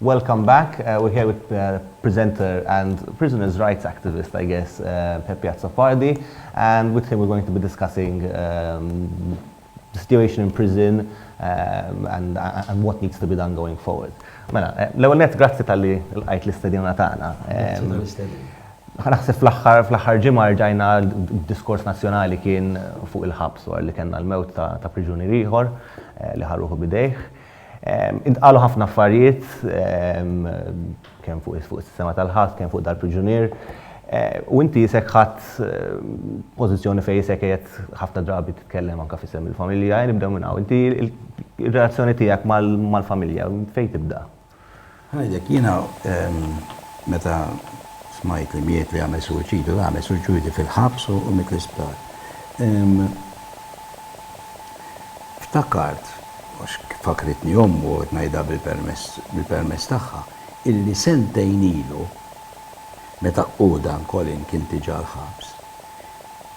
Welcome back. We're here with presenter and prisoners rights activist, I guess, Pepi Azzopardi. With him we're going to be discussing the situation in prison and what needs to be done going forward. Mela, l-ewwel nett grazzi talli lqajt l-istedina tagħna. Grazzi tal-istedina. Naħseb fl-aħħar fl-aħħar ġimgħa rġajna d-diskors nazzjonali kien fuq il-ħabs wara li kellna l-mewt ta' ta' priġunier ieħor li ħa ruħu b'idejh. Intqalu ħafna affarijiet kemm fuq fuq is-sistema tal-ħabs, kemm fuq dal-priġunier. U inti isek ħadt pożizzjoni fejn isek qiegħed ħafna drabi titkellem anke f'isem il-familja. Ejja nibdew minn hawn. Inti r-relazzjoni tiegħek mal-familja fejn tibda? Ngħidlek, jiena meta smajt li miet li għamel suwiċidju, la għamel suwiċidju fil-ħabs u miet l-isptar. Ftakart, għax fakkritni ommu, qed ngħidha bil-permess tagħha, illi sentejn ilu, meta hu, dan Colin, kien diġà l-ħabs,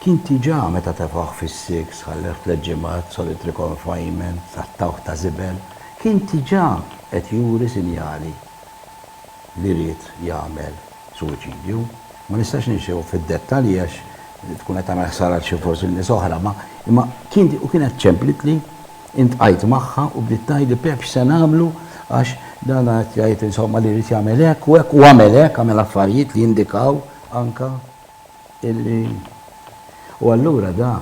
Kien diġà meta tefgħuh fis-siks, ħalleh tliet ġimgħat, solitary confinement, għattawh ta' żibel, kien diġà qed juri sinjali li ried jagħmel suwiċidju. Ma nistax ninxiehu fid-dettalji għax tkun qed tagħmel ħsara għal xi forsi nies oħra, ma imma kien u kienet ċemplitli, intqajt magħha u bdiet tgħidli Pepp x'se nagħmlu għax dan qed jgħid insomma li ried jagħmel hekk u hekk u għamel hekk, għamel affarijiet li jindikaw anke. illi U allura da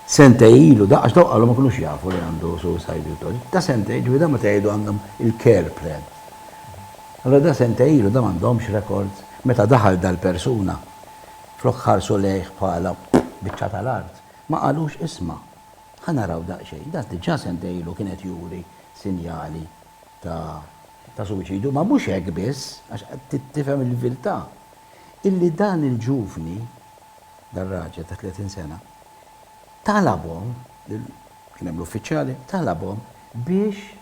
sentej ilu da, għax dawk qalu ma kinux jafu li għandu suicidal thoughts, da sentej, ġifieri da meta jgħidu għandhom il-care plan. Allura da sentej ilu da m'għandhomx records, meta daħal dal-persuna, flok ħarsu lejh bħala biċċa tal-art, ma qalux isma', ħa naraw daqsxejn, da diġà sentej ilu kien qed juri sinjali ta' ta' suwiċidju, ma mhux hekk biss, għax tifhem il-viltà. illi dan il-ġuvni, dan raġel ta' 30 sena, talabhom, kien hemm l-uffiċjali, talabhom biex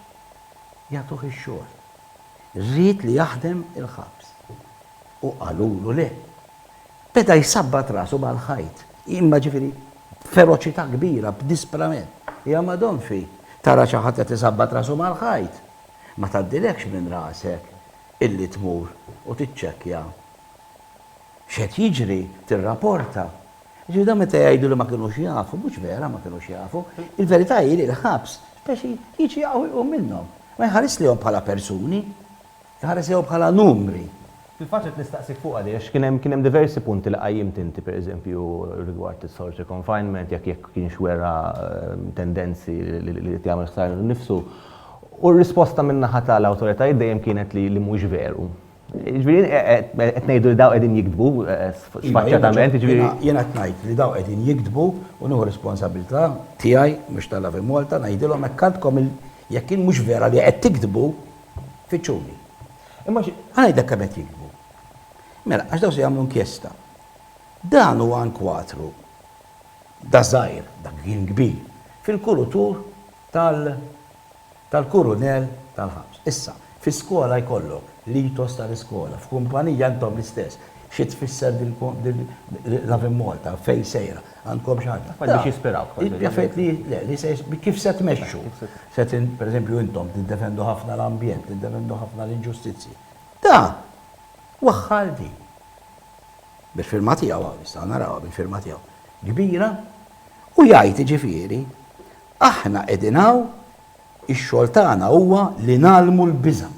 jagħtuh ix-xogħol. Ried li jaħdem il-ħabs. U qalulu le. Beda jsabbat rasu mal-ħajt. Imma ġifieri b'feroċità kbira, b'disprament. Ja Madonnfi, tara xi ħadd qed isabbat rasu mal-ħajt! Ma tgħaddilekx minn rasek illi tmur u tiċċekkja x'qed jiġri, tirraporta. Jiġifieri dawn meta jgħidu li ma kinux jafu, mhux vera ma kinux jafu. Il-verità hi li l-ħabs speċi jiġi hawn u jqum minnhom. Ma jħarisx lejhom bħala persuni, iħares lejhom bħala numri. Fil-fatt rid nistaqsik fuqha di għax kien hemm kien hemm diversi punti li qajjimt inti pereżempju rigward is-solitary confinement jekk jekk kienx wera tendenzi li jrid jagħmel ħsara lilu nnifsu U r-risposta min-naħa tal-awtoritajiet dejjem kienet li mhuwiex veru. Jiġifieri qed ngħidu li dawn qegħdin jigdbu sfaċċatament, jiġifieri. Jiena qed ngħid li dawn qegħdin jigdbu u nieħu r-responsabilità tiegħi mhux ta' Lavimalta ngħidilhom hekk għandkom il jekk jien mhux vera li qed tigdbu, fittxuni. Imma ħa ngħidlek kemm qed jigdbu. Mela, għax dawn se jagħmlu inkjesta. Dan huwa inkwatru da żgħir, dak kien kbir, fil-kulutur. tal tal-kurunell tal-ħabs. Issa, fis-skola jkollok l-ethos tal-iskola, f'kumpanija intom l-istess. Xi tfisser din din Lovin' Malta, fejn sejra? Għandkom xi ħaġa. Affarijiet biex jispiraw kważi. Hi affarijiet li, le, li se kif se tmexxu. Se tin, per eżempju intom tiddefendu ħafna l-ambjent, tiddefendu ħafna l-inġustizzji. Da! Waħħal din. Bil-firma tiegħu hawn, nistgħu narawha bil-firma tiegħu. Kbira. U jgħid, jiġifieri, Aħna qegħdin hawn, ix-xogħol tagħna huwa li ngħallmu l-biża'.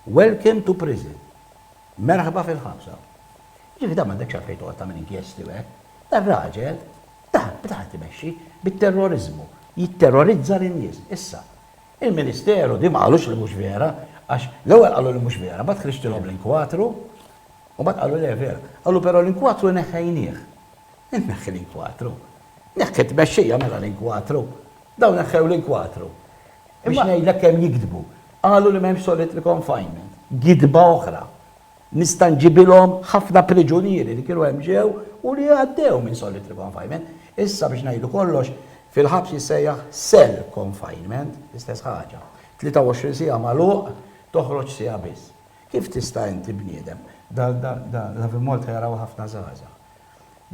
Welcome to prison. Merħba fil-ħabs hawn. Jiġifieri dan m'għandekx għalfejn toqgħod tagħmel inkjesti u hekk. Dan raġel, dan, beda qed imexxi bit-terroriżmu, jitterrorizza lin-nies. Issa, il-Ministeru di ma qalux li mhux vera, għax l-ewwel qalu li mhux vera, mbagħad ħriġtilhom l-inkwatru, u mbagħad qalu le vera. Qalu però l-inkwatru neħħejnieh. Inneħħi l-inkwatru. Neħħi t-tmexxija mela l-inkwatru. Dawn neħħew l-inkwatru. Biex ngħidlek kemm jigdbu. Qalu li m'hemmx solitary confinement. Gidba oħra. Nista' nġibilhom ħafna priġunieri li kienu hemm ġew u li għaddew minn solitary confinement. Issa biex ngħidu kollox, fil-ħabs jissejjaħ cell confinement, l-istess ħaġa. 23 siegħa magħluq, toħroġ siegħa biss. Kif tista' inti bniedem? Dan l-Avi Malta jaraw ħafna żgħażagħ.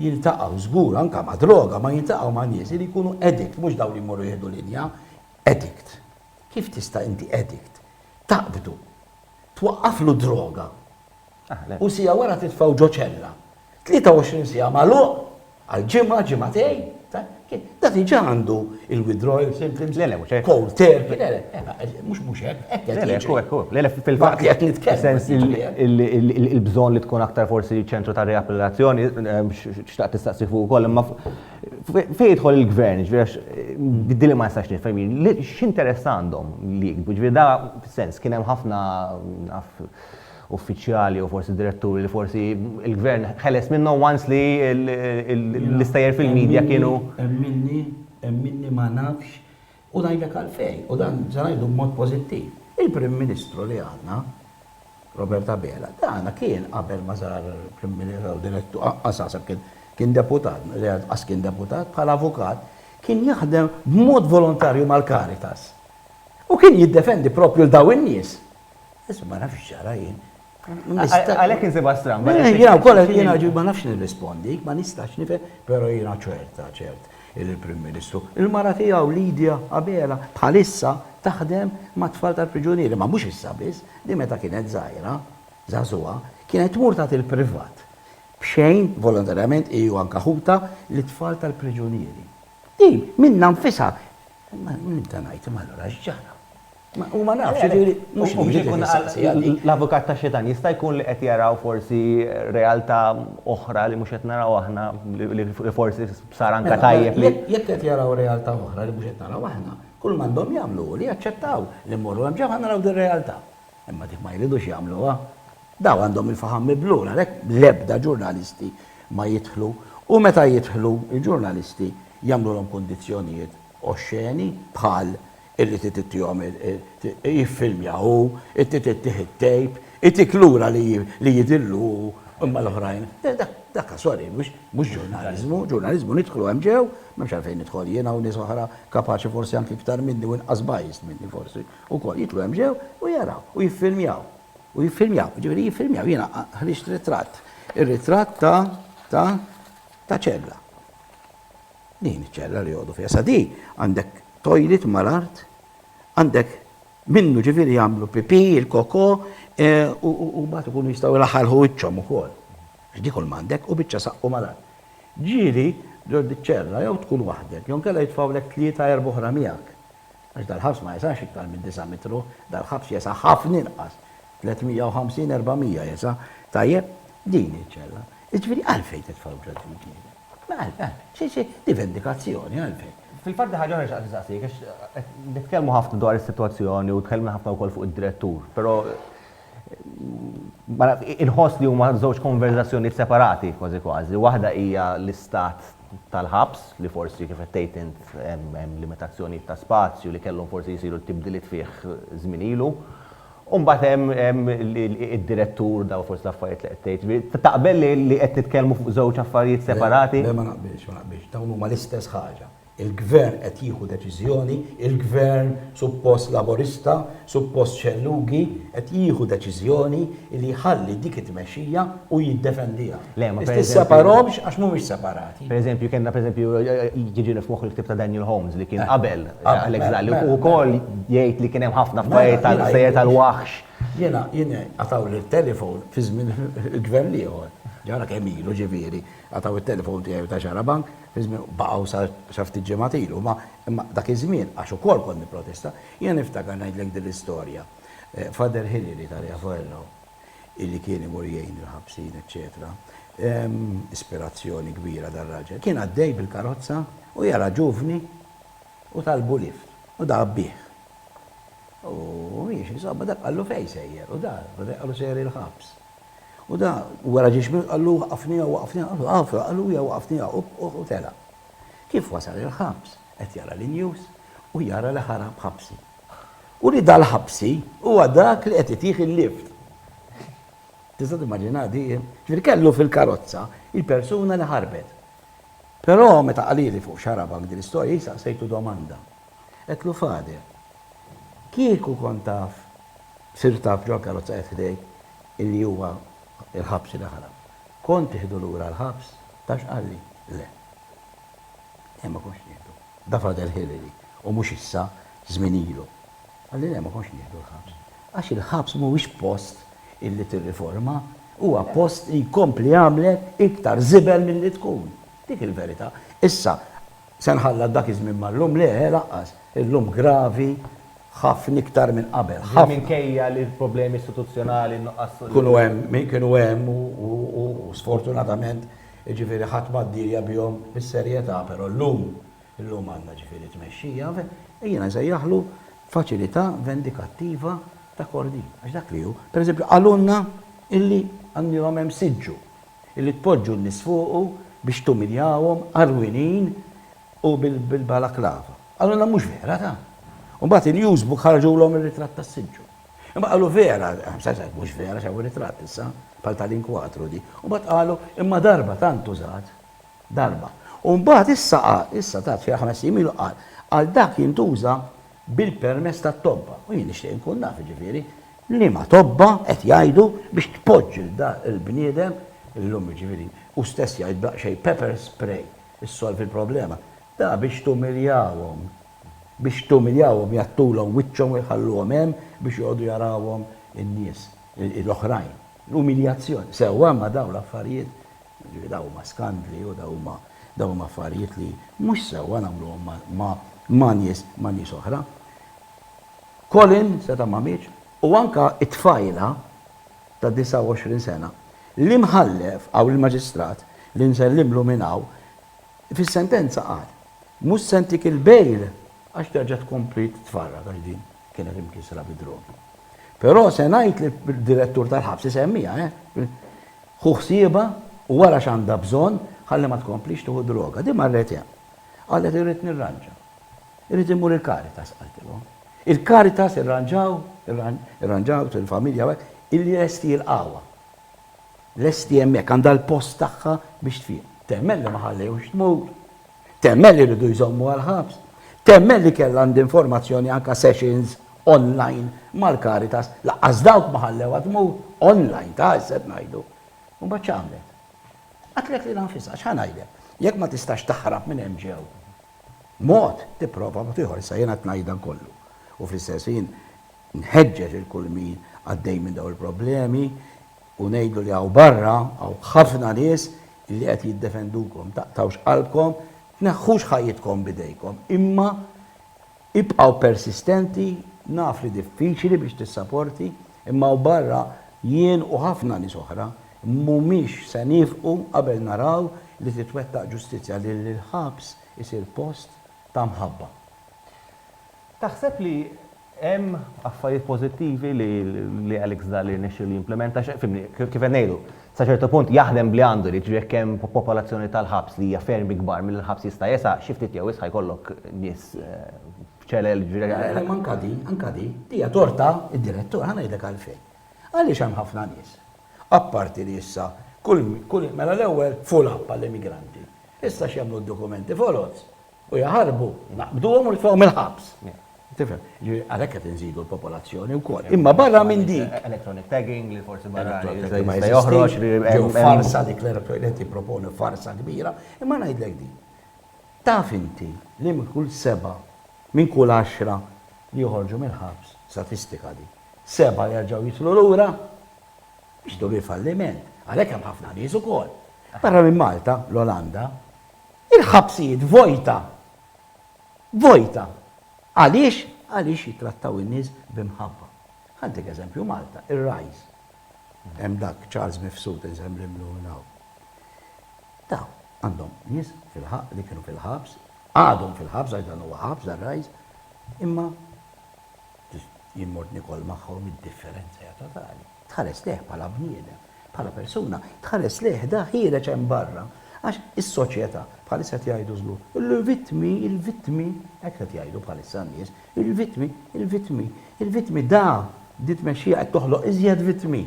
jiltaqgħu żgur anke ma' droga, ma jiltaqgħu ma' nies li jkunu addict, mhux dawn li jmorru jieħdu linja, addict. Kif tista' inti addict taqbdu, twaqqaflu droga u siegħa wara titfgħu ġo ċella, 23 siegħa magħluq għal ġimgħa, ġimgħatejn? Da diġa għandu il-withdrawal symptoms, cold turkey, le le, mux mux hekk, hekk qed jiġri. Hekk hekk, le le fil-fatt qed nitkellem. Fis-sens il-bżonn li tkun aktar forsi ċentru ta' riapplilazzjoni, xtaqt tistaqsi fuq ukoll, imma fejn jidħol il-gvern, ġifieri għax din li ma nistax nifhem jien, x'interess għandhom li jiktbu, ġifieri da fis-sens kien hemm ħafna uffiċjali jew forsi diretturi li forsi il-gvern ħeles minnhom once li l-istejjer fil-media kienu. Hemm minni, hemm minni ma nafx u ngħidlek għalfejn u dan se ngħidu b'mod pożittiv. Il-Prim Ministru li għandna, Robert Abela, dana kien qabel ma sar Prim Ministru jew Direttur, anqas naħseb kien kien Deputat, anqas kien Deputat, bħala Avukat, kien jaħdem b'mod volontarju mal-Caritas. U kien jiddefendi proprju 'l dawn in-nies. Issa ma nafx x'ġara jien. Għalhekk insibha stramba. Jiena wkoll jiena ma nafx nirrispondik, ma nistax nifhem, però jiena ċerta ċert li l-Prim Ministru, il-mara tiegħu Lydia Abela bħalissa taħdem mat-tfal tal-priġunieri, ma mhux issa biss, din meta kienet żgħira, żagħżugħa, kienet tmur tagħti l-privat b'xejn, volontarjament hi u anke ħutha, lit-tfal tal-priġunieri. Din minnha nfisha. Imma min ta' ngħid imma allura x'ġara? U ma nafx, jiġifieri, mhux mhux qed insaqsi għal dik. L-avukat tax-xitan, jista' jkun li qed jaraw forsi realtà oħra li mhux qed naraw aħna li forsi sar anke tajjeb li. Jekk qed jaraw realtà oħra li mhux qed naraw aħna, kull ma għandhom jagħmlu hu li jaċċettaw li mmorru hemm ġewħa naraw din realtà. Imma dik ma jridux jagħmluha. Dawn għandhom il-faħam miblul għalhekk l-ebda ġurnalisti ma jidħlu u meta jidħlu l-ġurnalisti jagħmlulhom kundizzjonijiet oxxeni bħal Irrid itittihom jiffilmja hu, irrid ittih it-tape, itik lura li jidhirlu hu imma l-oħrajn. Daka sorry, mhux ġurnaliżmu, ġurnaliżmu nidħlu hemm ġew, m'hemmx għalfejn nidħol jiena u nies oħra kapaċi forsi anki iktar minni u inqas biased minni forsi wkoll, jidħlu hemm ġew u jaraw u jiffilmjaw. U jiffilmjaw, jiġifieri jiffilmjaw, jiena ħriġt ritratt, ir-ritratt ta' ta' ċella. Din iċ-ċella li joqogħdu fiha. Sa di għandek toilet mal-art, għandek minnu ġifieri jagħmlu pipì, il-koko, e, u mbagħad ikunu jistgħu jlaħħalħu wiċċhom ukoll. Għax di kull m'għandek u biċċa saqqu mal-art. Ġieli ġo diċ-ċella jew tkun waħdek, jew nkella jitfgħulek tlieta erba' oħra miegħek. Għax dal-ħabs ma jesax iktar minn disa' mitru, dal-ħabs jesa' ħafna inqas. 350-400 jesa'. Tajjeb, din iċ-ċella. Iġifieri għalfejn titfgħu ġo din il-knisja? Mela, xi xi xi vendikazzjoni għalfejn? Fil-fatt di ħaġa oħra li xtaqt insaqsik għax qed nitkellmu ħafna dwar is-sitwazzjoni u tkellimna ħafna wkoll fuq id-direttur, però ma naf inħoss li huma żewġ konverżazzjonijiet separati kważi kważi. Waħda hija l-istat tal-ħabs li forsi kif qed tgħid int hemm limitazzjonijiet ta' spazju li kellhom forsi jsiru t-tibdiliet fih żmien ilu. U mbagħad hemm hemm id-direttur dawn fost l-affarijiet li qed tgħid. Taqbel li li qed nitkellmu fuq żewġ affarijiet separati? Le, le ma naqbilx, ma naqbilx. Dawn huma l-istess ħaġa. Il-Gvern qed jieħu deċiżjoni, il-Gvern suppost Laburista, suppost xellughi, qed jieħu deċiżjoni li jħalli dik it-tmexxija u jiddefendiha. Le, ma pereżempju. Tisseparahomx għax mhumiex separati. Per eżempju, kellna per eżempju, jiġini f'moħħ il-ktieb ta' Daniel Holmes li kien qabel Alex Dalli, u wkoll jgħid li kien hemm ħafna f'pajjiet tal-gżejjer tal-waħx. Jiena, jiena, għataw li telefon fi żmien il-gvern l-ieħor, ġara kemm ilu ġifieri, għataw it-telefon tiegħi u ta' Xarabank, fi żmien, baqgħu sa ftit ġimgħat ilu, imma, imma dak iż-żmien, għax ukoll kont nipprotesta, jiena niftakar ngħidlek din l-istorja. Father Hilary ta' Riafuelo, illi kien imur jgħin il-ħabsin eċċetera. Ispirazzjoni kbira dar-raġel. Kien għaddej bil-karozza u jara ġuvni u talbu lift u dahab bih. U mhijiex insomma dak qallu fejn sejjer u dar, meta jqalu sejjer il-ħabs. U da wara ġiex minn qallu waqafniha waqafniha, qalu waqafniha u tela. Kif wasal il-ħabs? qed jara l-news u jara li ħarab ħabsi. U li dal-ħabsi huwa dak li qed itih il-lift. Tista' timmaġinha di? Ġifieri kellu fil-karozza il-persuna li ħarbet. Però meta qalili fuq xarabak din l-istorja jien saqsejtu domanda. Għedtlu Father, kieku kont taf, sirt taf ġol karozza qed ħdejk illi huwa l-ħabsi li ħarab. Kont tieħdu lura l-ħabs? Taf x'qalli? Le. Le, ma kontx nieħdu. Da Frater Hilary, u mhux issa, żmien ilu. Qalli, Le, ma kontx nieħdu l-ħabs. Għax il-ħabs mhuwiex post illi tirriforma, huwa post li jkompli jagħmlek iktar żibel milli tkun. Dik il-verità. Issa, se nħallat dak iż-żmien mal-lum? Le, lanqas. Illum gravi ħafna iktar minn qabel. Ħafna. Din minkejja li l-problemi istituzzjonali, n-nuqqas. Kienu hemm, kienu hemm u sfortunatament Jiġifieri ħadd ma ddirja bihom bis-serjetà, però llum, illum għandna jiġifieri tmexxija, ejja nsejjaħlu faċilità vendikattiva ta' Kordin, għax dak li hu. Pereżempju qalulna illi għandilhom hemm siġġu, illi tpoġġu n-nies fuqu biex tumiljawhom għarwinin u bil-balaklava. Qalulna mhux vera dan. U mbagħad il-Newsbook ħarġulhom ir-ritratt tas-siġġu. Imma qalu vera, sajsajt mhux vera xaw ritratt issa, bħal tal-inkwatru di. U bat qalu imma darba tant użat. Darba. U mbagħad issa qal, issa tat xi ħames ilu qal, għal dak jintuża bil-permess tat-tobba. U jien nixtieq inkun naf ġifieri li ma tobba qed jgħidu biex tpoġġ il-bniedem illum ġifieri u stess jgħid xejn pepper spray issolvi l-problema. Da biex tumiljawhom Biex tumiljahom jgħattulhom wiċċhom u jħalluhom hemm biex joqogħdu jarawhom in-nies l-oħrajn. L-umiljazzjoni. Sewwa, imma dawn l-affarijiet, jiġifieri dawn huma skandli u dawn huma dawn huma affarijiet li mhux sewwa nagħmluhom ma' ma' nies ma' nies oħra. Colin seta' ma mietx u anke t-tfajla ta' 29 sena, l-Imħallef, hawn il-Maġistrat, li nsellimlu minn hawn, fis-sentenza qal, Mhux se ntik il-bail għax terġa' tkompli titfarrak għax din kienet imkissra bid-drogi. Però se ngħid lid-direttur tal-ħabs, isemmiha, eh, ħu ħsiebha u wara x'għandha bżonn ħalli ma tkomplix tieħu droga. Din marret hemm. Qalet irrid nirranġa. Irrid immur il-Caritas qaltilhom. Il-Caritas irranġaw, irranġaw il-familja illi lesti jilqgħuha. Lesti hemmhekk, għandha l-post tagħha biex tfiq. Temmen li ma ħallewhx tmut. Temmen li riedu jżommuha l-ħabs. Temmen li kellha għand informazzjoni anke sessions online mal-Caritas. Lanqas dawk ma ħallewha tmut, online ta' issa qed ngħidu. U mbagħad x'għamlet? Qatlet lilha nfisha, x'ħa ngħidlek? Jekk ma tistax taħrab minn hemm ġew. Mod, tipprova mod ieħor, issa jiena qed ngħidha kollu. U fl-istess ħin, Nħeġġeġ lil kull min għaddej minn dawn il-problemi u ngħidlu li hawn barra hawn ħafna nies li qed jiddefendukom. Taqtgħux qalbkom, tneħħux ħajjitkom b'idejkom, imma ibqgħu persistenti, naf li diffiċli biex tissaporti, imma hawn barra jien u ħafna nies oħra mhumiex se niefqu qabel naraw li titwettaq ġustizzja li l-ħabs isir post ta' mħabba. Taħseb li Hemm affarijiet pożittivi li Alex Dalli rnexxielu jimplimenta, fimni, kif qed ngħidu, sa ċertu punt jaħdem b'li għandu, jiġifieri jekk hemm popolazzjoni tal-ħabs li hija ferm ikbar milli l-ħabs jista' jesa', xi ftit jew wisq jkollok nies f'ċelel, jiġifieri. Imma anke di, anke di, hija torta d-direttur, ħa ngħidlek għalfejn. Għaliex hemm ħafna nies, apparti li issa kull, mela l-ewwel full up għall-immigranti, issa x'jagħmlu d-dokumenti foloz, U jaħarbu, naqbduhom u nitfgħuhom il-ħabs. Tifhem? Għalhekk qed inżidu l-popolazzjoni wkoll. Imma barra minn dik. Electronic tagging li forsi barra ma joħroġ li ġew farsa dik li tipproponi farsa kbira, imma ngħidlek din. Taf inti li minn kull seba' minn kull għaxra li joħorġu mill-ħabs, statistika di, seba' jerġgħu jitlu lura biex dur falliment. Għalhekk hemm ħafna nies ukoll. Barra minn Malta, l-Olanda, Il-ħabsijiet vojta. Vojta. Għaliex? Għaliex jittrattaw in-nies b'imħabba. Ħantik eżempju Malta, ir-Rise. Hemm dak Charles Mifsud insemmlimlu minn hawn. Dawn għandhom nies fil-ħabs li kienu fil-ħabs, għadhom fil-ħabs għax dan huwa ħabs dan Rise, imma jien mort nikol magħhom id-differenza hija totali. Tħares lejh bħala bniedem, bħala persuna, tħares lejh da ħiereġ hemm barra. Għax is-soċjetà, bħalissa qed jgħidu żgur, il-vittmi, il-vittmi, hekk qed jgħidu bħalissa n-nies, il-vittmi, il-vittmi, il-vittmi, da, di tmexxija qed toħloq iżjed vittmi.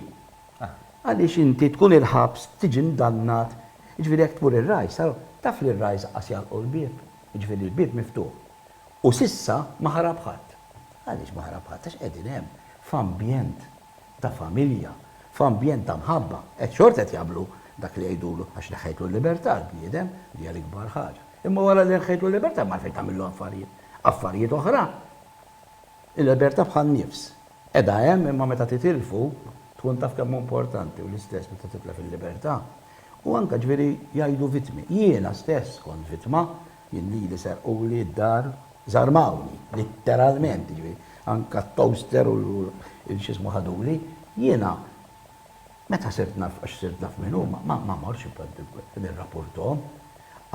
Għaliex inti tkun il-ħabs, tiġi ndannat, jiġifieri jekk tmur ir-rajs, taf li r-rajs qas jagħlqu l-bieb, jiġifieri l-bieb miftuħ. U s'issa ma ħarab ħadd. Għaliex ma ħarab ħadd? Għax qegħdin hemm, f'ambjent ta' familja, f'ambjent ta' mħabba. Qed xorta qed jagħmlu dak li jgħidulu, għax neħħejtlu l-libertà l-bniedem, li hija l-ikbar ħaġa. Imma wara li neħħejtlu l-libertà ma għalfejn tagħmillu affarijiet. Affarijiet oħra. Il-libertà bħan-nifs. Qiegħda hemm imma meta titilfu, tkun taf kemm hu importanti u l-istess meta titlef il-libertà. U anke, ġifieri, jgħidu vittmi. Jiena stess kont vittma Jien lili serquli d-dar, żarmawni, litteralment, jiġifieri anke t-toaster u l-x'ismu ħaduli, jiena meta sirt naf għax sirt naf min huma, ma mortx nirrapurthom.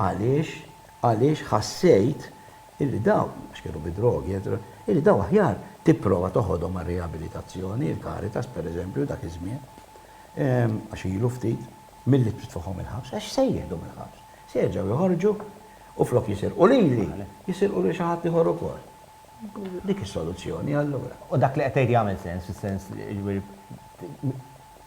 Għaliex? Għaliex ħassejt illi dawn, għax kienu bi drogi, eċċetera, illi dawn aħjar tipprova toħodhom għar-riabilitazzjoni, il-Caritas pereżempju dak iż-żmien, għax ilu ftit, milli titfagħhom il-ħabs, għax se jieħdu mill-ħabs? Se jerġgħu joħorġu u flok jisirqu lili, jisirqu lil xi ħadd ieħor ukoll. Dik is-soluzzjoni allura. U dak li qed tgħid jagħmel sens, fis-sens li jiġifieri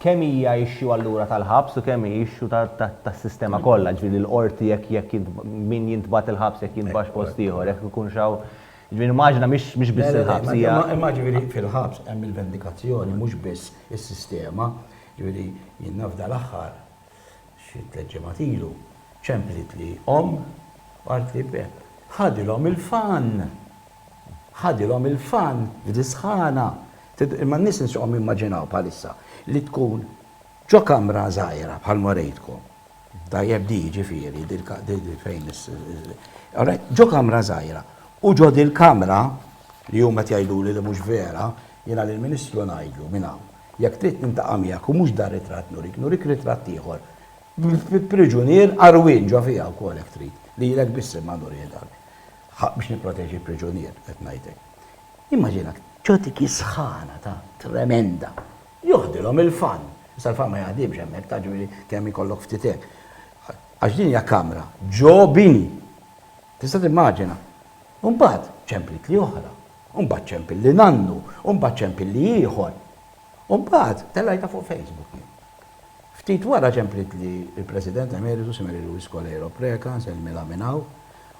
kemm hija issue allura tal-ħabs u kemm hi issue tas-sistema kollha, jiġifieri li l-qorti jekk jekk min jintbagħat il-ħabs jekk jintbagħatx post ieħor, jekk ikunx hawn, jiġifieri nimmaġina mhix mhix biss il-ħabs hija. Imma jiġifieri fil-ħabs hemm il-vendikazzjoni mhux biss is-sistema, jiġifieri jien naf dal-aħħar, xi tliet ġimgħat ilu, ċemplitli omm u qaltli, Bepp, ħadilhom il-fann! Ħadilhom il-fann f'di sħana! Imma n-nies insuqhom jimmaġinaw bħalissa li tkun ġo kamra żgħira bħal ma rejtkom. Tajjeb di jiġifieri, di fejn is. Alright, ġo kamra żgħira. U ġo dil-kamra, li huma qed jgħiduli li mhux vera, jiena lill-Ministru ngħidlu minn hawn, Jekk trid nintaqa' miegħek u mhux dar-ritratt nurik, nurik ritratt ieħor, bi priġunier għarwien ġo fiha wkoll jekk trid. Lilek biss imma nurielek. Ħa biex nipproteġi l-priġunier qed ngħidlek. Immaġina, tgħotik is-sħana ta' tremenda. Joħdilhom il-fan. Issa l-fan ma jaħdimx hemmhekk taf ġifieri kemm ikollok ftit hekk. Għax din hija kamra ġo bini. Tista' timmaġina. U mbagħad ċemplitli oħra. U mbagħad ċempil li nannu, u mbagħad ċempil li ieħor. U mbagħad tellajtha fuq Facebook jien. Ftit wara ċemplitli l-President Emeritu si Mary Louise Coleiro Preca, nsellmilha minn hawn,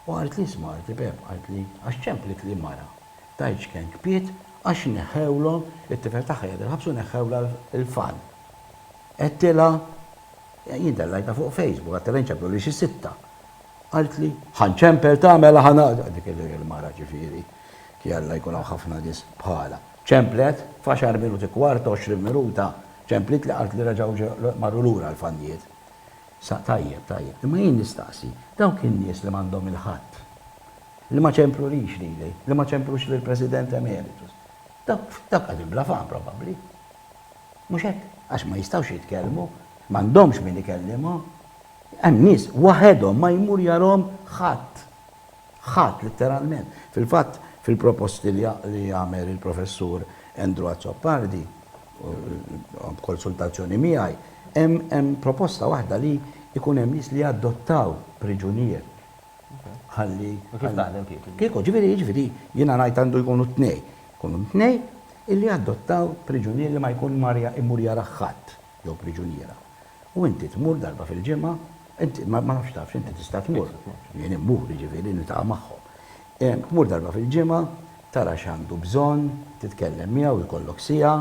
u qaltli isma' qaltli Pepp qaltli għax ċemplitli mara tajt x'ken kpiet għax neħħewlhom it-tifel tagħha qiegħed il-ħabs u neħħewlha l-fan. Għedtilha, jien tellajtha fuq Facebook, għedtilha jinċemplulix is-sitta. Qaltli, Ħa nċempel tagħmela ħa naqta' dik il-mara ġifieri, jalla jkun hawn ħafna nies bħalha. Ċemplet, f'għaxar minuti, kwart, għoxrin minuta, ċemplitli qaltli reġgħu marru lura l-fannijiet. Sa tajjeb, tajjeb. Imma jien nistaqsi, dawk in-nies li m'għandhom il-Ħadd, li ma ċemplulix lili, li ma ċemplux lill-President Emeritus, dawk qegħdin bla fam probabbli. Mhux hekk? Għax ma jistgħux jitkellmu, m'għandhomx min ikellimhom. Hemm nies waħedhom ma jmur jarahom ħadd. Ħadd, litteralment. Fil-fatt, fil-proposti li għamel il-Professur Andrew Azzopardi, b'konsultazzjoni miegħi, hemm proposta waħda li jkun hemm nies li jadottaw priġunier ħalli. U kif taħdem kieku? Kieku, ġifieri, jiġifieri, jiena ngħid għandu jkunu t-tnejn. Ikunu t-tnejn illi jadottaw priġunier li ma jkun mar imur jarah ħadd. jew priġuniera, u inti tmur darba fil-ġimgħa, inti, ma nafx tafx, inti tista' tmur, jien immur, jiġifieri niltaqa' magħhom, tmur darba fil-ġimgħa, tara x'għandu bżonn, titkellem miegħu, jkollok siegħa,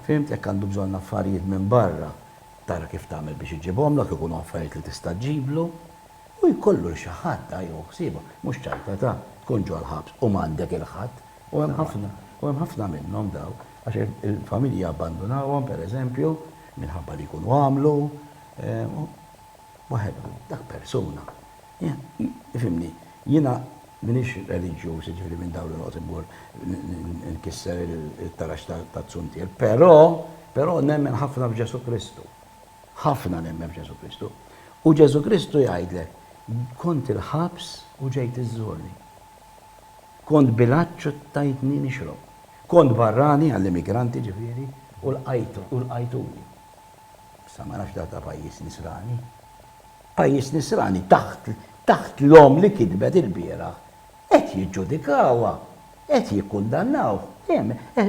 fhimt, jekk għandu bżonn affarijiet minn barra, tara kif tagħmel biex iġibhomlok, ikunu affarijiet li tista' ġġiblu, u jkollu l-xi ħadd, ha, jew ħsiebha, mhux ċajta ta', tkun ġol-ħabs u m'għandek il-ħadd, U hemm ħafna, u hemm ħafna minnhom dawk, għax il-familji jabbandunawhom, per eżempju, minħabba li jkunu għamlu, waħedhom, dak persuna. Ifhimni, jiena m'iniex reliġjuż, jiġifieri minn dawn li noqgħod immur nkisser it-tarax taz-zuntier, però, però nemmen ħafna f'Ġesù Kristu. Ħafna nemmen f'Ġesù Kristu. U Ġesù Kristu jgħidlek, kont il-ħabs u ġejt iżżurni. Kont bil-għatx u tajtni nixrob. Kont barrani, għall-immigranti ġifieri, u lqajtuni. Issa ma nafx dak ta' pajjiż nisrani. Pajjiż nisrani taħt taħt l-omm li kitbet ilbieraħ. Qed jiġġudikawha. Qed jikkundannawh.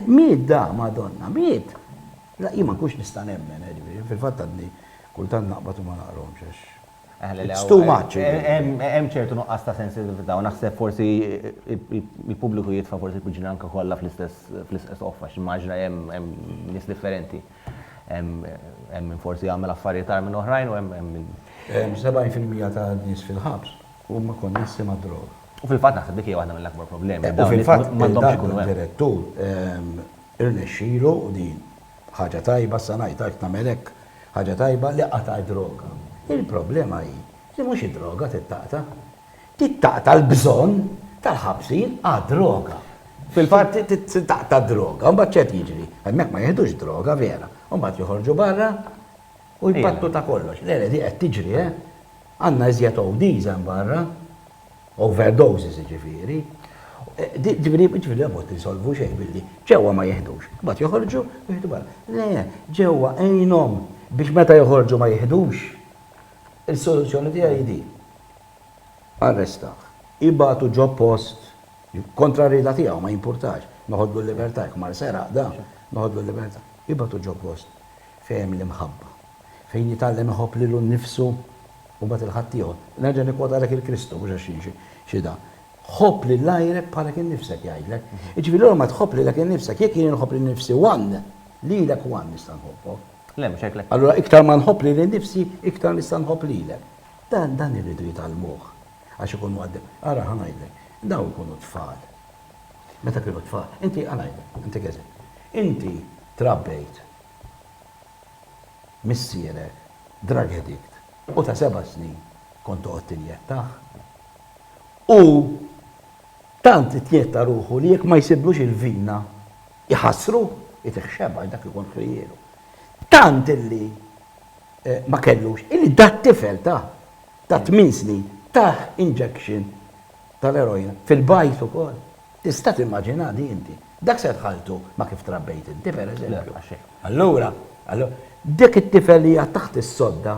Miet da, Madonna, miet! Jien ma nkunx nista' nemmen, jiġifieri, fil-fatt għadni kultant naqbad u ma naqrahomx għax. It's too much. Hemm ċertu nuqqas ta' sensitività u naħseb forsi il-pubbliku jitfa' forsi l-piġranka kollha fl-istess qoffa għax immaġina hemm nies differenti. Hemm min forsi jagħmel affarijiet agħar minn oħrajn u hemm min. 70% ta' nies fil-ħabs huma konnessi mad-droga. U fil-fatt naħseb dik hija waħda mill-akbar problemi. U fil-fatt m'għandhomx ikunu hemm. Dak id-direttur irnexxielu u din Ħaġa tajba, issa ngħid għalhekk tagħmel hekk, ħaġa tajba li qatgħet droga. Il-problema hi li mhux id-droga trid taqta'. Trid taqta' l-bżonn tal-ħabsin għad-droga. Fil-fatt trid taqta' d-droga. Mbagħad x'qed jiġri? Hemmhekk ma jiħdux droga vera. Mbagħad joħorġu barra u jpattu ta' kollox. Le, le, di qed tiġri, eh! Għandna iżjed ODs hemm barra. overdoses jiġifieri, jiġifieri la fost insolvu xejn billi ġewwa ma jiħdux, imbagħad joħorġu u jieħdu barra. Le, ġewwa għinhom biex meta joħorġu ma jiħdux. Is-soluzzjoni tiegħi hi din, arrestah, ibagħtu ġo post, kontra r-rieda tiegħu, ma jimpurtax, noħodlu l-libertà, jekk mar seraq da, noħodlu l-libertà, ibagħtu ġo post fejn hemm l-imħabba. fejn jitgħallem iħobb lilu nnifsu u mbagħad 'il ħaddieħor. Nerġa' nikkwotalek 'il Kristu, mhux għax xi xi da. Ħobb lil għajrek bħalek innifsek, jgħidlek. Jiġifieri allura ma tħobb lilek innifsek, jekk jien inħobb lil nnifsi one, lilek one nista' nħobbok. Le, mhux hekk le. Allura iktar ma nħobb lili nnifsi, iktar nista' nħobb lilek. Dan, dan irridu jitgħallmuh għax ikun mgħaddeb. Ara, ħa ngħidlek, dawn ikunu tfal. Meta kienu tfal, inti, ħa ngħidlek, intik eżempju. Inti trabbejt. missierek drug addict u ta' seba' snin kont toqgħod tinjettah. Hu tant itjetta ruħu li jekk ma jsibblux il-vina jħassru, itih xebgħa għax dak ikun ħlielu. Tant illi ma kellux, illi dat-tifel ta' ta' tmien snin tah injection tal-eroina fil-bajt ukoll. Tista' timmaġina di inti? Dak se tħalltu ma' kif trabbejt inti, pereżempju. Allura, allura, dik it-tifel li hija taħt is-sodda,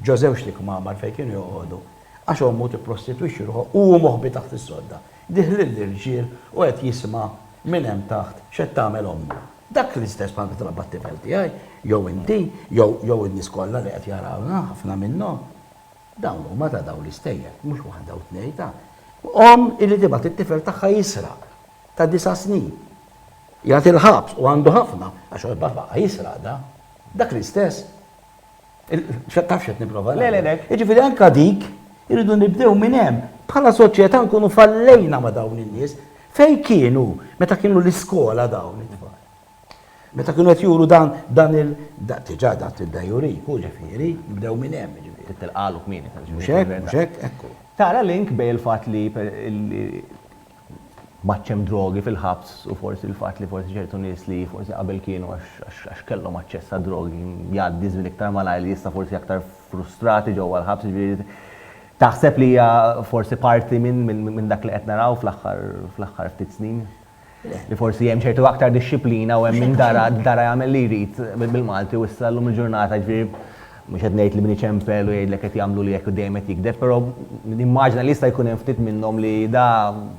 ġo żewġt ikmamar fejn kienu joqogħdu, għax ommu tipprostitwixxi ruħha u hu moħbi taħt is-sodda, dih lill-irġiel u qed jisma' minn hemm taħt x'qed tagħmel ommu. Dak l-istess bħal kif trabba t-tifel tiegħi, jew inti, jew, jew in-nies kollha li qed jarawna, ħafna minnhom. Dawn huma ta' dawn l-istejjer, mhux waħda u tnejn, ta', omm illi tibgħat it-tifel tagħha jisraq ta' disa' snin. Jagħti l-ħabs u għandu ħafna għax hu jibgħat baqa' jisraq da. Dak l-istess. Taf x'qed nipprova ngħidlek. Jiġifieri anke dik irridu nibdew minn hemm. Bħala soċjetà nkunu fallejna ma' dawn in-nies. Fejn kienu meta kienu l-iskola dawn it-tfal? Meta kienu qed juru dan dan il diġà dat id-dajjurik hu ġifieri, nibdew minn hemm ġifieri. Trid tilqagħlu kmieni ta' Mhux hekk, mhux hekk, ekku. Tara link bejn il-fatt li m'għadx hemm drogi fil-ħabs u forsi l-fatt li forsi ċertu nies li forsi qabel kienu għax kellhom aċċess għad-drogi jgħaddi żmien iktar malajr li issa forsi aktar frustrati ġewwa l-ħabs jiġifieri taħseb li hija forsi parti minn dak li qed naraw fl-aħħar ftit snin? li forsi hemm ċertu aktar dixxiplina u hemm min dara dara jagħmel li jrid bil-Malti u issa llum il-ġurnata ġifieri mhux qed ngħid li min iċempel u jgħidlek qed jagħmlu li hekk u dejjem qed jigdeb, però nimmaġina li jista' jkun hemm ftit minnhom li da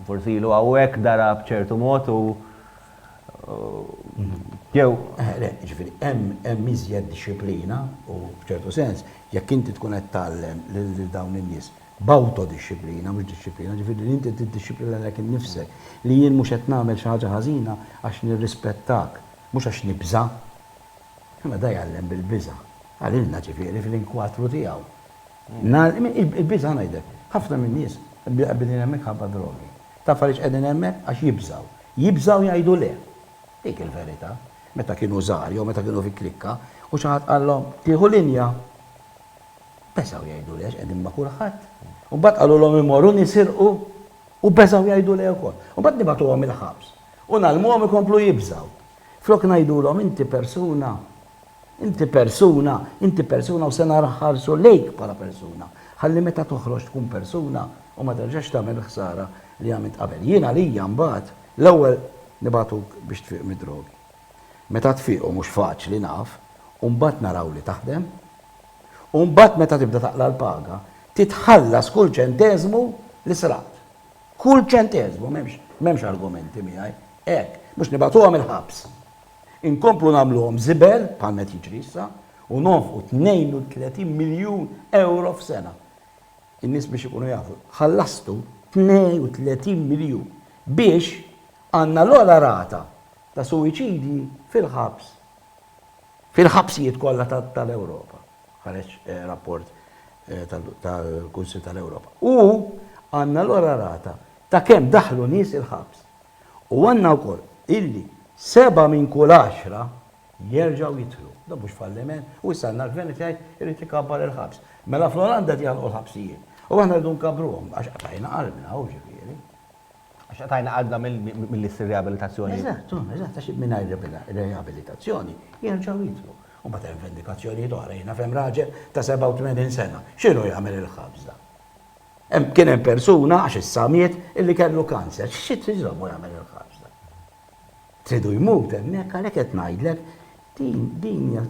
forsi ilu hawnhekk dara b'ċertu mod u jew. Ġifieri hemm iżjed dixxiplina u f'ċertu sens jekk inti tkun qed tgħallem lil dawn in-nies b'awtodixxiplina, mhux dixxiplina, jiġifieri li inti tiddixxiplina lilek innifsek, li jien mhux qed nagħmel xi ħaġa ħażina għax nirrispettak, mhux għax nibża'. Imma da jgħallem bil-biża', għalilna ġifieri fil-inkwatru tiegħu. Il-biża' ngħidlek, ħafna min-nies qegħbidin hemmhekk ħabba drogi. Taf għaliex qegħdin hemmhekk? Għax jibżgħu. Jibżgħu jgħidu le. Dik il-verità. Meta kienu żgħar jew meta kienu fi klikka u xi ħadd qallhom, tieħu linja. Beżgħu jgħidu lei għax qegħdin ma' kulħadd. U mbagħad qalulhom imorru nisirqu u beżgħu jgħidu lei ukoll. U mbagħad nibagħtuhom il-ħabs u ngħallmuhom ikomplu jibżgħu. Flok ngħidulhom inti persuna, inti persuna, inti persuna u se nħarsu lejk bħala persuna, ħalli meta toħroġ tkun persuna u ma terġax tagħmel il-ħsara li għamilt qabel. Jien għalija mbagħad l-ewwel nibagħtuk biex tfiq mid-drogi. Meta tfiq u mhux faċli naf, u mbagħad naraw li taħdem, u mbagħad meta tibda taqla' l-paga, titħallas kull ċenteżmu li sraqt. Kull ċenteżmu, m'hemmx, m'hemmx argumenti miegħi. Hekk, biex nibagħtuhom il-ħabs. Inkomplu nagħmluhom żibel, bħalma qed jiġri issa, u nonfqu 32 miljun ewro f'sena. In-nies biex ikunu jafu, ħallastu 32 miljun biex għandna l-ogħla rata ta' suwiċidji fil-ħabs. Fil-ħabsijiet kollha tal-Ewropa, ħareġ rapport tal-Kunsill tal-Ewropa. U għandna allura rata ta' kemm daħlu nies il-ħabs. U għandna wkoll illi sebgħa minn kull għaxra jerġgħu jidħlu. Dan mhux falliment. U issa għandna l-Gvern qed jgħid irid ikabbar il-ħabs. Mela fl-Olanda qed jagħlqu l-ħabsijiet. U aħna rridu nkabbruhom għax qatajna qalbna, hu jiġifieri. Għax qtajna qalbna milli ssir riabilitazzjoni. Eżatt, eżatt, għax mingħajr riabilitazzjoni jerġgħu jidħlu. U mbagħad hemm vendikazzjonijiet oħra. Jien naf hemm raġel ta' 87 sena. X'inhu jagħmel il-ħabs dan? Kien hemm persuna, għax issa miet, illi kellu kanser. Xi trid iżommu jagħmel il-ħabs dan? Tridu jmut hemmhekk għalhekk qed ngħidlek din din hija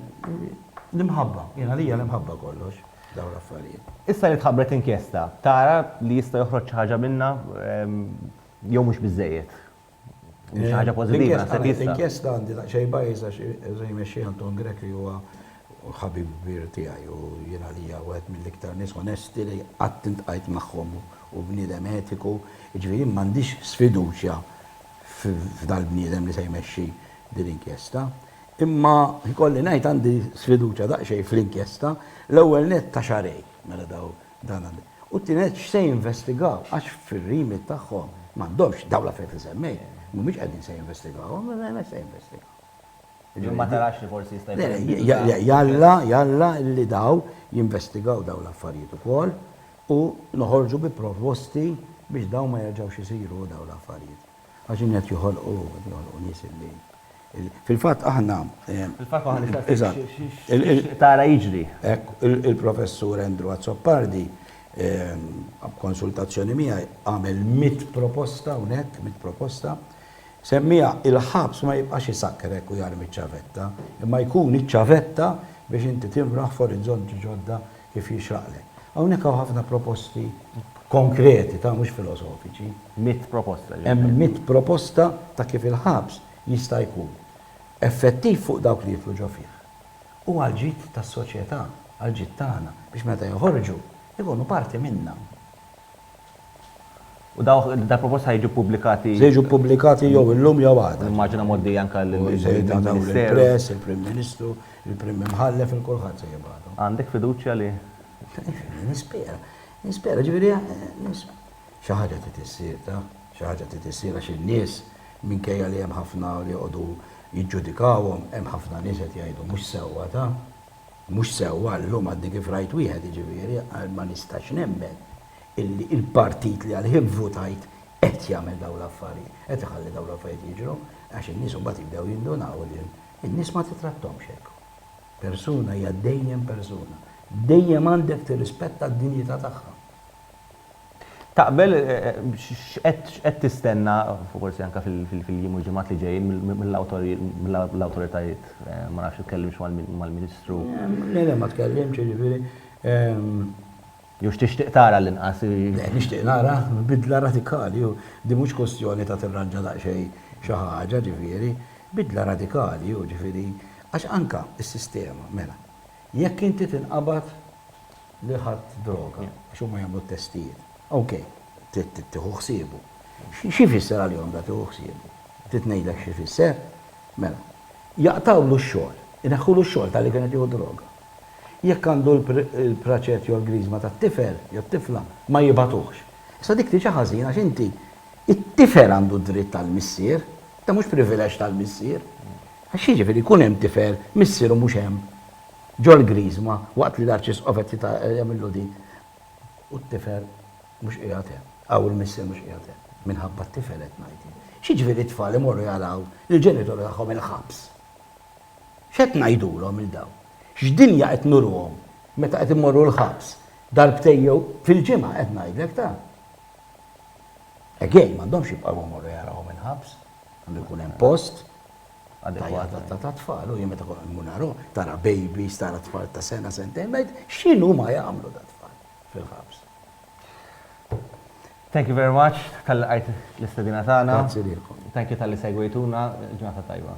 l-imħabba, jien għalija l-imħabba kollox dawn l-affarijiet. Issa li tħabbret inkjesta, tara li jista' joħroġ xi ħaġa minnha jew mhux biżżejjed? Xi ħaġa pożittiva naħseb jista'. L-inkjesta għandi daqsxejn bias għax se jmexxi Anton Grech li huwa ħabib kbir tiegħi u jien għalija wieħed mill-iktar nies onesti li qatt iltqajt magħhom u bniedem etiku, jiġifieri jien m'għandix sfiduċja f'dal-bniedem li se jmexxi din l-inkjesta. Imma jkolli ngħid għandi sfiduċja daqsxejn fl-inkjesta, l-ewwel nett ta' xahrejn, mela dawn dan għandi. U t-tieni nett x'se jinvestigaw għax fir-remit tagħhom m'għandhomx dawn l-affarijiet li semmejt, mhumiex qegħdin se jinvestigawhom, se jinvestigaw. Ġifieri ma tarax li forsi jista' jkun hemm bidla. Le, jalla, jalla li daw jinvestigaw dawn l-affarijiet ukoll u noħorġu bi proposti biex dawn ma jerġgħux isiru dawn l-affarijiet. Għax din qed joħolqu, qed joħolqu nies li Fil-fatt aħna. Fil-fatt aħna nistaqsu x'tixtieq tara jiġri. Hekk, il-Professur Andrew Azzopardi, b'konsultazzjoni miegħi, għamel mitt proposta hawnhekk, mitt proposta, Semmiha, Il-ħabs ma jibqax isakkrek u jarmi ċ-ċavetta, imma jkun iċ-ċavetta biex inti tinfraħ f'orizzonti ġodda kif jixraqlek. Hawnhekk hawn ħafna proposti konkreti ta' mhux filosofiċi. Mitt proposta. Hemm mitt proposta ta' kif il-ħabs jista' jkun effettiv fuq dawk li jidħlu ġo fih u għall-ġid tas-soċjetà, għall-ġid tagħna, biex meta joħorġu, ikunu parti minnha. U dawk dal-proposti ħa jiġu ppubblikati? Se jiġu ppubblikati jew illum jew għada. Nimmaġina mgħoddija anke lill-Ministeru. Il-Press, il-Prim Ministru, il-Prim Imħallef, il-kulħadd se jibgħathom. Għandek fiduċja li? Nispera. Nispera, ġifieri xi ħaġa trid issir taf. Xi ħaġa trid issir għax in-nies minkejja li hemm ħafna li joqogħdu jiġġudikawhom, hemm ħafna nies qed jgħidu mhux sewwa taf. Mhux sewwa llum għadni kif rajt wieħed jiġifieri qal ma nistax nemmen illi il-partit li għalih vvutajt qed jagħmel dawn l-affarijiet, qed iħalli dawn l-affarijiet jiġru għax in-nies imbagħad jibdew jindunaw li n-nies ma titrattomx hekk. Persuna hija dejjem persuna. Dejjem għandek tirrispetta d-dinjità tagħha. Taqbel? X'qed tistenna, forsi anke fil-jiem u l-ġimgħat li ġejjin, mill-awtoritajiet? Ma nafx, itkellimx mal-Ministru? Le, le, ma tkellimx, jiġifieri. Jew x'tixtieq tara għall-inqas? Le, nixtieq nara bidla radikali. Din mhux kwistjoni ta' tirranġa daqsxejn xi ħaġa, ġifieri. Bidla radikali, jiġifieri. Għax anke s-sistema, mela, Jekk inti tinqabad li ħadt droga, għax huma jagħmlu t-testijiet, ok, trid tieħu ħsiebu. Xi jfisser għalihom da tieħu ħsiebu? Trid ngħidlek xi jfisser? Mela, jaqtgħulu x-xogħol, ineħħulu x-xogħol talli kien qed jieħu d-droga. Jekk għandu l-praċett jew l-griżma tat-tifel jew t-tifla, ma jibagħtuhx. Issa dik tiġi ħażina għax inti, it-tifel għandu d-dritt għall-missier, da mhux privileġġ tal-missier. Għax jiġifieri jkun hemm tifel, missieru mhux hemm, ġol-Griżma waqt li l-Arċisqof qed jagħmillu din, u t-tifel mhux qiegħed hemm, aw il-missier mhux qiegħed hemm? Minħabba t-tifel qed ngħid jien. X'jiġifieri t-tfal imorru jaraw lill-ġenituri tagħhom il-ħabs? X'qed ngħidulhom lil dawn? X'dinja qed nuruhom meta qed imorru l-ħabs darbtejn jew fil-ġimgħa qed ngħidlek ta'. Again, m'għandhomx jibqgħu jmorru jarawhom il-ħabs. Għandu jkun hemm post adekwata tat-tfal u jien meta kont immur narahom, tara babies, tara tfal ta' sena, sentejn, ngħid x'inhu ma jagħmlu dat-tfal fil-ħabs. Thank you very much tal-li qajt l-istedina tagħna. Grazzi lilkom. Thank you tal-li segwejtuna, ġurnata tajba.